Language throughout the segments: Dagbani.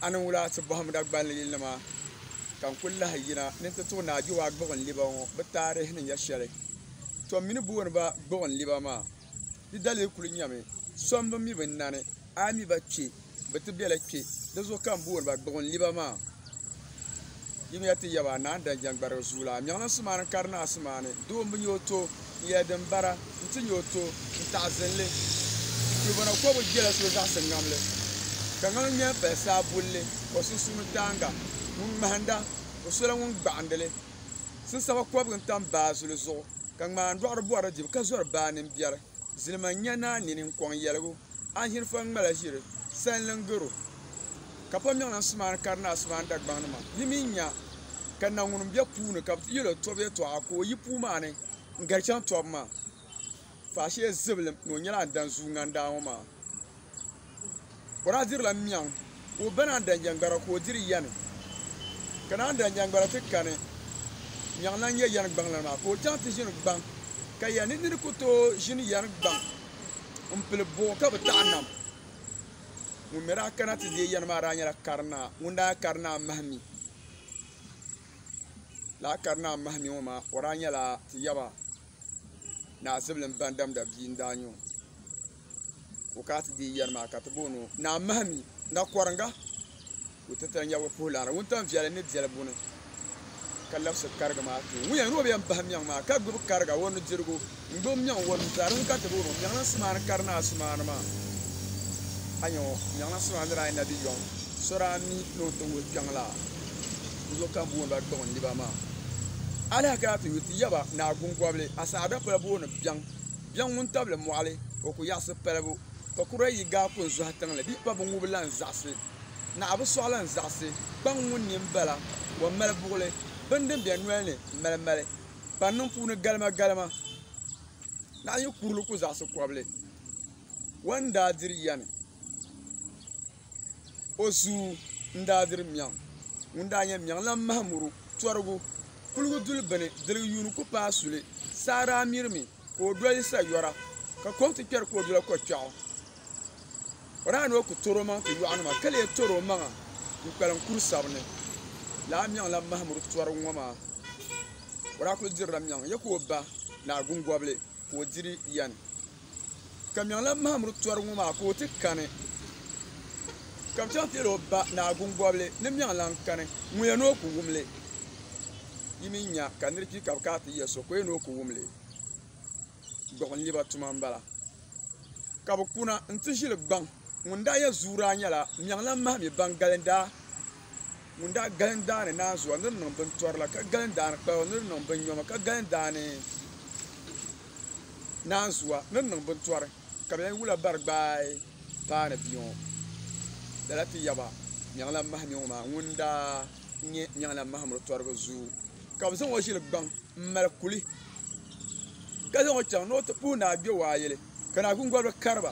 A ni wula ti bɔhim Dagbani yilinima ka n kul lahi yina ni n ti tuɣi Naa Giwa Gbuɣinliba ŋɔ bɛ taarihi ni nya shɛli. Tɔ m mi ni booni ba Gbuɣinliba maa. Di dalili kul nyami so m-bi mi binnani, a yi mi ba kpe bɛ ti bela kpe. Di zuɣu ka m booni ba Gbuɣinliba maa. Yimiya ti yaba, naan dan jɛŋgbarigu zuu la. Miɣilinsi maa ni kari naɣisi maa ni, doo m-bi nya o to, n yɛli din bara, nti nya o to, n taɣisin li. Kulibɔna kɔbu jela so zaɣisi ŋamli, ka ŋamli ŋmɛli pali saa bulli o sunsuuni taaŋa. Ŋun ŋmahinda, o sola ŋun gbaɣindi li. Sinsaba kɔbiga n-tam baa zuli zuɣu, ka ŋmaandɔɣiri bɔri di dibu ka zɔri baa nini biɛri. Zilima n-nya naa nini n-kɔŋ yɛligu. A hiri fɔŋ ŋmala ʒiri sanlin garo, ka pa miɣin asimaani kari ni asimaani dagbaŋnima. Yi mi nya ka na ŋun m-be puu ni ka bɛ ti yɛl o tɔbu yɛtɔɣa ka o yi puu maa ni n-gari chaŋ tɔbu maa. Faashee zibilim ni o nyɛla a ni dan zuui ŋandaa ŋɔ maa. Kɔra dirila miɣin. Ka o bɛn a daŋjɛngbara ka o diri yani, ka naan daŋjɛngbara ti kani nyaŋ lan nya yani gbaŋlana maa, ka o chaŋ ti ʒini gbaŋ. Ka ya ni nini ku tooi ʒini yani gbaŋ m-pili buɣ ka bi taɣi nam? Ŋun mi daa kana ti deei yani maa daa nyɛla karinaa ŋun daa kari naa mahimi. Lala karinaa mahimi ŋɔ maa, o daa nyɛla Tiyaba naa Zibilim Bandamda bia n-daa nyɛ o. o ka ti deei yɛri maa ka ti booni o Naa Mahimi nga kɔringa o ti tali nyɛvili puhi laara wuntaŋ viɛli ni biɛli buni ka labisi kariga maa tuun wuya ni o bi yɛn bahi miɛŋ maa ka gbubi kariga o nudirigu n gbubi miɛŋ o nuzaa di ni ka ti booni o miɛŋlinsi maa ni kari naa sumaani maa a nyɛ ŋɔ miɛŋlinsi maa ni daa yɛn na bi yɔŋ so daa mi ni o ti wuhi kpɛŋ la di zuɣu ka n booni ba gbuɣindiba maa alahi kana ti yu ti yaba naa Gungɔbili asaadapila booni biɛŋ Biɛŋ ŋun tabili mɔɣili, o ku yaɣisi palibu. Ka kura yi gaai ku n-zɔhi tiŋli, bɛ pa binŋubi lan zaɣisi. Naɣa bi sɔɣi lan zaɣisi. Kpaŋ ŋun nini bala, o mali buɣili. Bini din be noli ni mali mali, pa niŋ puuni galimagalima. Naɣa yi kurili ku zaɣisi kɔbili, o ni daa diri yani. O zuu n-daa diri Miɛŋ ŋun daa nyɛ Miɛŋlan Mahamuru tɔrigu. Kuligu duli bini diligi yuuni ku paai suli. Saa daa mirimi ka o doli sayɔra ka kom ti kpɛri ka o dola ko kpɛɣu. O daa ni o ku tɔri omaŋ ti yɔɣunima ka lee tɔri omaŋa n-kpalim kuri sabini. Lala Miɛŋlan Mahamuru tɔrigu ŋɔ maa, o daa kuli dirila Miɛŋ ya ka o ba ni Agungɔbili. ka o diri yɛn ka Miɛŋla Mahamuru tɔri ŋɔ maa ka o ti kani ka bɛ chaŋ ti yɛli o ba Naa Guŋgɔbili ni Miɛŋla n-kani ŋun yɛn ni o ku wum li yi mi nya ka nir kpi ka bɛ kana ti yɛ so ka o yɛn ni o ku wum li gbuɣinliba tuma m-bala ka bɛ kuna nti ʒili gbaŋ ŋun daa yɛ zuuraa nyɛla Miɛŋla Mahimi Baŋgali daa Ŋun daa galim daani naanzuwa ni di niŋ bintɔrila, ka galim daani kpalba ni di niŋ binnyoma, ka galim daani naanzuwa ni di niŋ bintɔri, ka bɛn wula bari gbaai paani bia ŋɔ, lala ti yaba Nyaŋlan Mahimi ŋɔ maa ŋun daa nyɛ Nyaŋlan Mahimi tɔriba zuyu, ka bɛ zaŋ o ʒili gbaŋ m-mali kuli, ka zaŋ o chaŋ ni o ti puhi Naa Gbewayili, ka Naa Guŋgɔriba kari ba.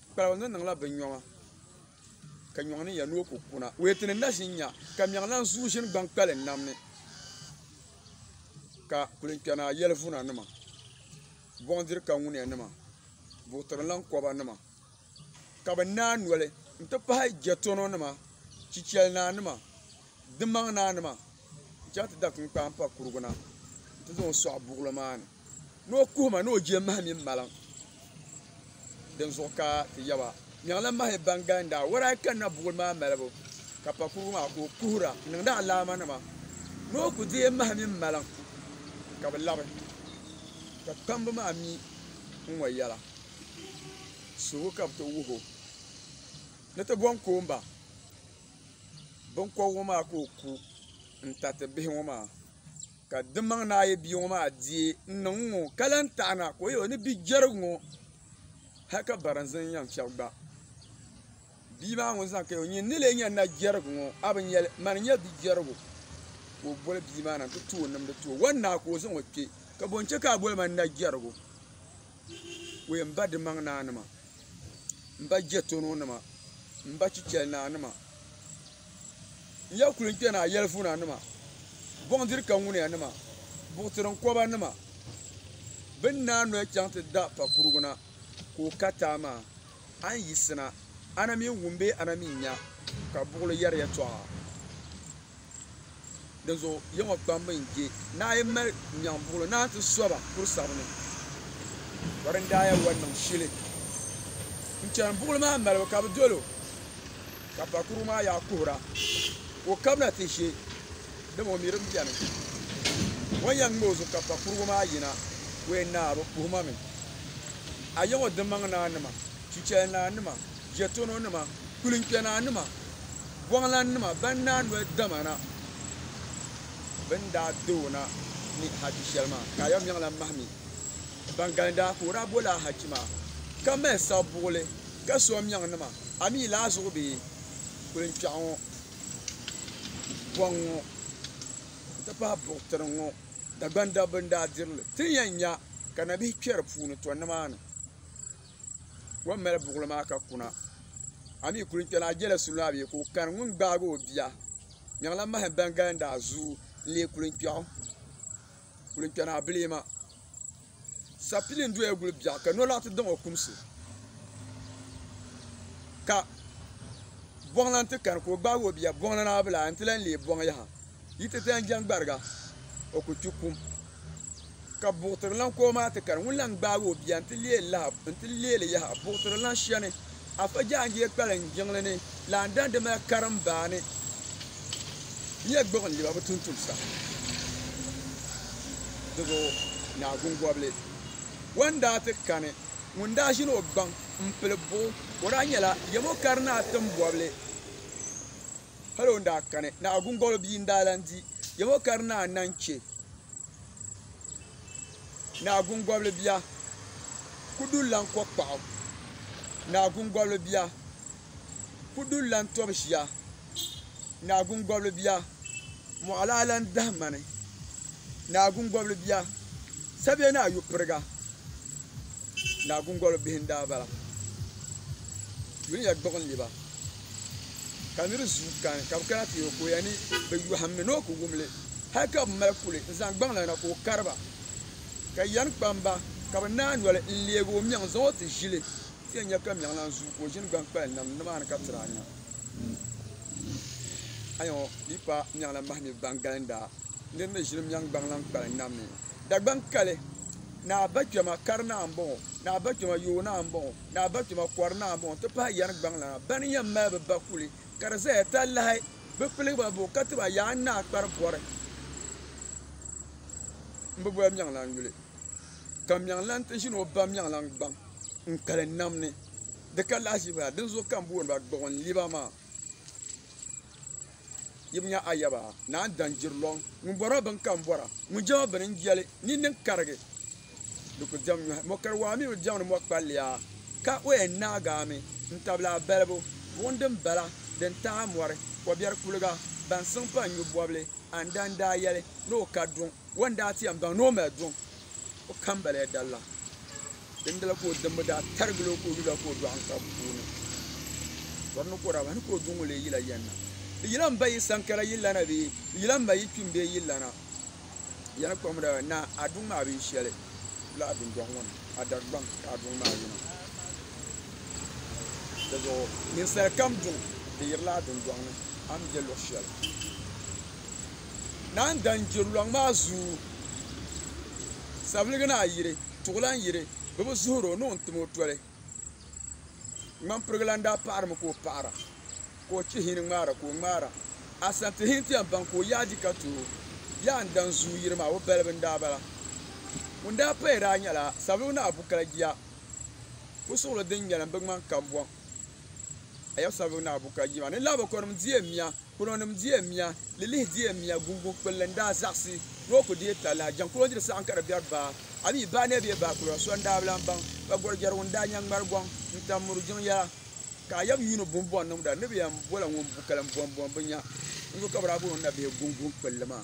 Kpalgu ni niŋla binnyoŋa, ka nyoŋ ni ya ni o ku kuna. O yeti ni na ʒin nya, ka miɛŋ lan zuui ʒin gbaŋ kpalin nam ni, ka kulinkpɛna yɛlivuna nima, bɔŋdiri kaŋuniya nima, buɣitirinlan kɔba nima, ka bɛ naai noli n-ti pahi jɛtɔno nima, chichɛli naa nima, dimaŋ naa nima n-chaŋ ti da kinkpaan pa kurigu na n-ti zaŋ sɔɣi buɣili maa ni. Ni o kuhi ma ni o je mahi mini maliŋ. Dinzuɣu ka ti yaba, Nyaŋla mahi ban galin daa wara yi kanna buɣili maa malibu, ka pa kurigu maa ka o kuhira niŋdi alaamanima. Ni o ku deei mahi mini maliŋ, ka bɛ labi, ka kpamba maa mi n-ŋɔ yɛla, Suhigu ka bɛ ti wuh o, ni ti bom koom ba biŋkɔbigu maa ka o ku n-tariti bihi ŋɔ maa. Ka dimaŋ ni a yi bia ŋɔ maa deei n-niŋ ŋɔ, ka lan taɣi na ka o yɛl o ni bi jɛrig ŋɔ, hal ka barinzin yɛn fiɛbi gba. Bia maa ŋun zaŋ kaya o nyin ni lee nya na jɛrig ŋɔ, a bi nya li, man n-nyɛ bi jɛrigu? Ka o boli bia maa na nti ti o nimdi ti o, Wan naa ka o zaŋ o kpe, ka bɔ n-chɛ ka a boli ma ni na jɛrigu? Wee m ba dimaŋ naa nima, m ba jɛtɔno nima, m ba chichɛli naa nima. Ya kuli kpɛna a yɛlivuna nima, bɔŋdiri ka ŋuniya nima, buɣitirin kɔba nima. Bɛ ni naai noli chaŋ ti da pa kurugu na ka o ka taai maa, a ni yiɣisina, a na mi n-wum bee a na mi n-nya ka buɣili yɛri yɛtɔɣa? Dinzuɣu Yehowa kpamba n je naai mali nyaŋbuɣilo naan ti soba kuri sabini. Ka din daa yɛn wari niŋ shili n chani buɣili maa malibu ka bɛ dol o, ka pa kurugu maa yaɣa kuhira ka o kabina ti ʒe, dama o mi di beni. O ni yɛn ŋme o zuɣu ka pa kurugu maa yina, o yɛn naai bi puhi ma mi. A Yehowa dimaŋ naa nima, chichɛli naa nima! jɛtono nima kulinkpɛna nima bɔŋlan nima ban daa noli dama na bɛn daa di o na ni hajji shɛli maa ka ayɔmiŋ lan mahi mi ban galindaa ka o daa bo laa hajji maa ka mali sabuɣili ka so amiŋ nima a mi laa zuɣu bee kulinkpɛɣu ŋɔ bɔŋ ŋɔ n ti pahi buɣitiri ŋɔ Dagban dabba n daa diri li ti ni yɛn nya ka nabihi kpɛri puuni tɔ ni maa ni. Kom mali buɣili maa ka kuna. A mi kuli kpɛna a jela suli maa bee ka o kani ŋun gbaagi o bia. Nyaŋla mahim ban galindi a zuyu n-leei kulinkpɛɣu. Kulinkpɛna a bi leei ma. Sapili n-doya guli biɛɣu ka nolɔɣu ti daŋ o kumsi ka bɔŋlan ti kani ka o gbaagi o bia. Bɔŋli naa bi lahi n-ti lan leei bɔŋ yaha. Yi ti dan jɛŋ gbariga o ku kpi kum. Ka buɣitirilan ka o maa ti kari ŋun lan gbaag o bia nti leei li yaha. Buɣitirilan shia ni Afa Jaanjee kpaliŋ jiŋli ni lan dan di mali karimbaa ni bia gbuɣindiba bɛ tuntumsa. Di zuɣu Naa Guŋgɔbili wan daa ti kani ŋun daa ʒini o gbaŋ m-pili buɣu. O daa nyɛla yɛm o kari Naa Timbɔbili. Hal o ni daa kani, ni Agungɔlo bia n-daa lan di Yawɛ ka di naan naŋ chɛ ni Agungɔbili bia ku dul lan kɔ kpaɣu, ni Agungɔbili bia ku dul lan tɔbi ʒia, ni Agungɔbili bia mɔɣu daa lan dahi ma ni, ni Agungɔbili bia sabiɛ ni ayopiriga, ni Agungɔlo bihi n-daa bala. Dunia gbuɣinli ba. ka niri zuu kani ka bɛ kana ti o ka o ya ni bɛ yɔhim ni ni o ku wum li hal ka bɛ mali kuli n-zaŋ gbaŋ la na ka o kari ba ka yɛn kpam ba ka bɛ naai noli n-leeg o mɛŋ zaŋ o ti ʒili ti yɛn nya ka mɛŋ lan zuu ka o ʒini gbaŋ kpali nam nimaani ka tiri anya anya ŋɔ di yi paai mɛŋ la mahimi gbaŋ galindaa niri ni ʒini mɛŋ gbaŋ lan kpali nam ni Dagbaŋ kali ni a ba kpɛma kari naa m-bɔŋɔ ni a ba kpɛma yooi naa m-bɔŋɔ Naa Batuma kɔri Naa Mɔɔ ti pahi Yɛri Gbaŋlana bɛn yɛn mali bɛ ba kuli ka di zaya talahi bɛ piligi ba buɣi ka ti ba Yaa Naa Kpari Bɔri m bi boli Miɛŋlan yuli ka Miɛŋlan ti ʒini o ba Miɛŋlan gbaŋ n kali nam ni di ka lahiʒiba la dinzuɣu ka m booni ba Gbuɣinliba maa. yibu nya ayaba naan dan jiri lɔŋ ŋun bɔri o bini ka n bɔra ŋun jɛm o bini n jɛli nini n karigi di ku diɛm nyɔhi mɔ kari waa mi bi diɛmdi mɔ kpalliya ka o yɛn naagaami n tabili a balibu buɣim din bala din taai mɔri kɔbiɛri kuliga ban siŋ pa n nyu bɔbili a ni daa n daa yɛli ni o ka duŋ o ni daa ti yɛn baŋ ni o mali duŋ o kambaliya dalilan dindala ka o dimbu daa tarigili o ka o yula ka o dɔɣi n-kpa puuni bɔri ni ka o daa bahi ni ka o duŋ o lee yila yɛn na di yila m ba yi sankara yi lana bee di yila m ba yi kpim bee yi lana di yɛli kɔŋ daa naa a duŋ maa bi yi shɛli wula a dundɔŋ ŋɔ ni a dari gbaŋ ka a duŋ maa yina di zuɣu ninsali kam duŋ di yirila a dundɔŋ ni a ni be luɣ shɛli naan dan gbiri lɔŋ maa zuu, sabiligi naa yiri, tuɣilan yiri, bɛ bi zuhir o ni o ni tim o toli. Ŋmampirigu lan daa paɣirimi ka o paɣira, ka o chihi ni ŋmaara ka o ŋmaara. Asantihi nti yɛn baŋ ka o yaadi ka ti o, Yaa n dan zuu yiri maa, o balibu n-daa bala. Ŋun daa paya daa nyɛla sabiligu naa Bukala Jia, pusuɣili din nyɛlim bi ŋmani kambɔŋ. A ya sabigu naa Bukajima ni laabakɔnim diɛ mia, kpulɔnim diɛ mia, lilihi diɛ mia, guŋguŋ kpulli n-daa zaɣisi ni o ku deei talahi. Jaŋkuloodiri saɣim ka di biɛri baa, a mi baa neei bee baa kpulɔra so n-daa bi lan baŋ. Ka Gɔrjɛrigu n-daa nya ŋmari gɔŋ n-tam muru jiŋ yɛla, ka a yab yuuni bun bɔŋ niŋda ni bɛ yɛn bɔla ŋun bu kalim bɔmbɔmbu nya. N zo ka bɛ daa booni o nabihi guŋguŋ kpulli maa.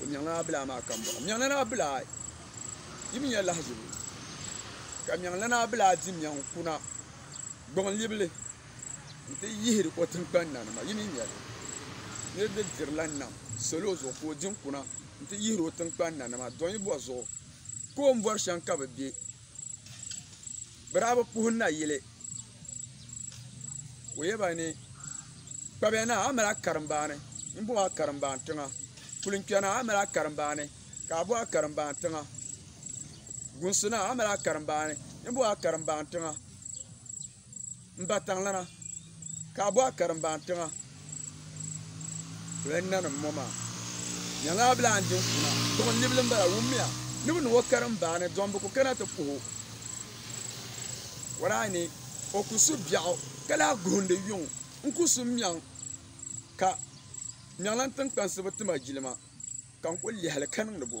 o nyaŋla abilaa maa kambɔɣu nyaŋlana abilaa yi mi nya lahiʒibu ka nyaŋlana abilaa di nyaŋ kuna gbuɣinlibili nti yihiri o tiŋgbani na nima yi mi nya li niriba dirila nam salo zuɣu ka o di n-kuna nti yihiri o tiŋgbani na nima dɔnyibɔri zuɣu koombɔri shɛm ka bɛ be bira bi puhi nayili ka o yɛba ni kpabya naa a yi mali a karimbaani n bɔŋɔ a karimbaani tiŋa kuli kpɛ naa a yi mali a karimbaani ka a bo a karimbaani tiŋa gungsi naa a yi mali a karimbaani n bɔŋɔ a karimbaani tiŋa N ba taŋlana ka a bɔ a karimbaan tiŋa o yɛn nanim ŋɔ maa nyɛla a bila n din kuna duɣu libili n bala wummiya ni bi niŋ o karimbaani dɔm bi ku kana ti puhi o waraa ni o ku su biɛɣu ka lahi guhindi yuŋ n ku su miɛŋ ka miɛŋla n tiŋkpansi bi tima jilima ka n ku lihili ka niŋdi bo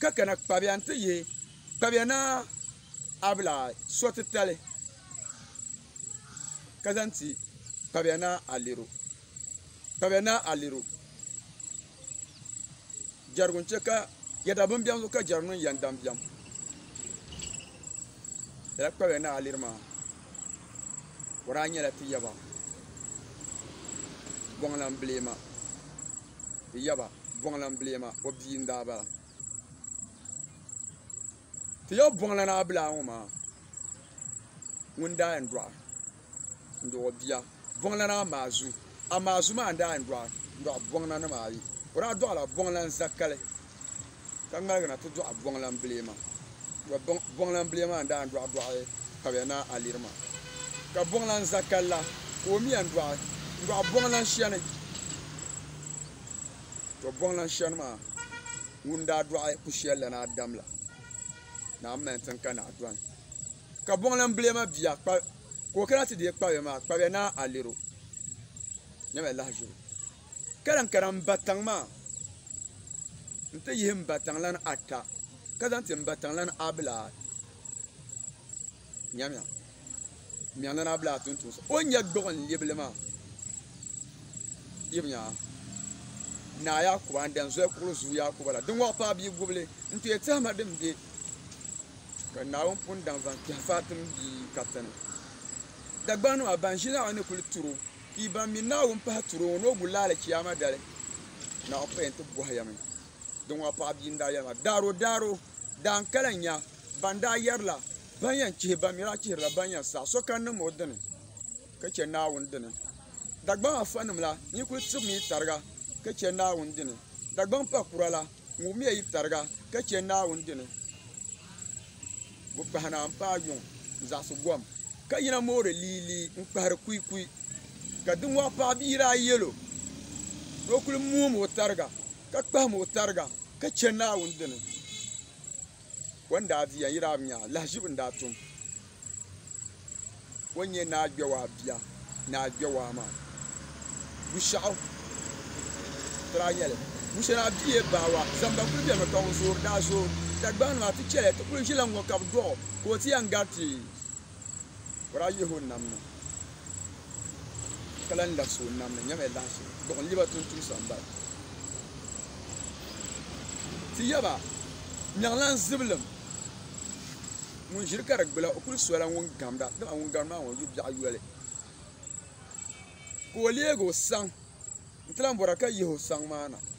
ka kana kpabiya n ti yɛ kpabiya naa abila so titali ka zaŋ ti kpabiya naa aliru kpabiya naa aliru jɛrigu n chɛ ka yɛda bin biɛni zuɣu ka jɛrigu niŋ yɛn daŋ biɛm lala kpabiya naa aliru maa O daa nyɛla ti yaba Bɔŋlam Bileema, ti yaba Bɔŋlam Bileema o bia n-daa bala. Ti yaba Bɔŋla Naa Bilaa ŋɔ maa ŋun daa yɛn dɔɣi n-dɔɣi o bia. bɔŋlana maa zu, amaa zu maa n-daa yɛn dɔɣi bɔŋlanima ayi. O daa dɔɣila bɔŋlan zakali ka ŋmaligi na ti dɔɣi bɔŋlan bilee maa. Tɔ! Bɔŋlan bilee maa n-daa yɛn dɔɣi dɔɣi Kabiya Naa Aliri maa, ka bɔŋlan zakali la ka o mi yɛn dɔɣi n-dɔɣi bɔŋlan shɛni. Tɔ! Bɔŋlan shɛni maa ŋun daa dɔɣi ku shɛli la ni Adam la, naa m-mali n-tin ka naa dɔni, ka bɔŋlan bilee maa bia kpa ka o kana ti deei kpabia maa kpabia ni a lir o nyɛmi a lahi ʒiri o ka lahi kana n ba tiŋ maa n ti yihi n ba tiŋlani ata ka zaŋ ti n ba tiŋlani abila nyɛmiya miɛŋlani abila tuun tuun o ni nyɛ gbuɣin libili maa yibi nyaa naa Yakuba n dan zoli kuɣili zuɣu Yakuba la din wɔɣi paai bia gubili n ti yɛ tɛhima din bɛ Ka Naawuni pun daŋ zaŋ kpɛhi Fatim bia Katsina. Dagbaŋnima ban ʒi Naawuni ni kuli turi o pii ban mi Naawuni pahi turi o ŋɔ ni o guli laali Chiyaama dali, Naawuni pa yɛn ti bɔhi ya mi. Dinŋɔ paɣa bia n-daa yɛli ma, Daaro, daaro, daan kala n-nya ban daa yɛrila ban yɛn chihi ban mi daa chihiri la ban yɛn saɣi sokam niŋm o dini ka chɛ Naawuni dini. Dagbaŋ afa nim la, nyi kuli tibimi yi tariga ka chɛ Naawuni dini. Dagbaŋ pakura la. N wummiya yi tariga ka chɛ Naawuni dini bi kpahi na m-paai yuŋ n-zaɣisi gom, ka yina moori liilii n-kpahiri kuikui. Ka diŋɔ paɣ bia daa yɛl o ni o kul muum o tariga, ka kpahim o tariga ka chɛ Naawuni dini. O ni daa di yɛn yiri Abnyaa, lahiʒibu n-daa tum o n-nyɛ Naa Gbewaa bia. Naa Gbewaa maa Bushɛɣu daa nyɛ li. Bushɛnaa bia Baawa zamba kuli beni mi ka ŋun zoori daa zooi Dagbaŋ nima ti chɛli ti kuli ʒi la ŋ-ŋɔ ka bɛ dɔɣi o ka o ti yɛn gari ti. O daa yihi o nam ni ka lan labisi o nam ni nyɛmaya lahichi gbuɣin li ba tuntumsa m-bala. Ti yaba, Nyaŋlan Zibilim ŋun ʒiri ka di gbula, o kul sola ŋun gamda, dama ŋun gamdi maa ŋɔ yu biɛɣu yoli. Ka o leeg o saŋ nti lan bɔra ka yihi o saŋ maa na.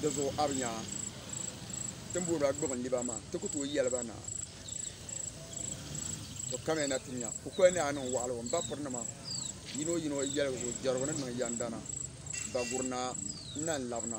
di zuɣu a bi nya tin bori ba gbuɣin liba maa ti ku tooi yɛli ba ni a to kamiya na ti nya kukoli ni a niŋ waɣiligu m ba piri nima yino yino yɛligu jɛrigu ni niŋ yɛndana baguri naa n na n labina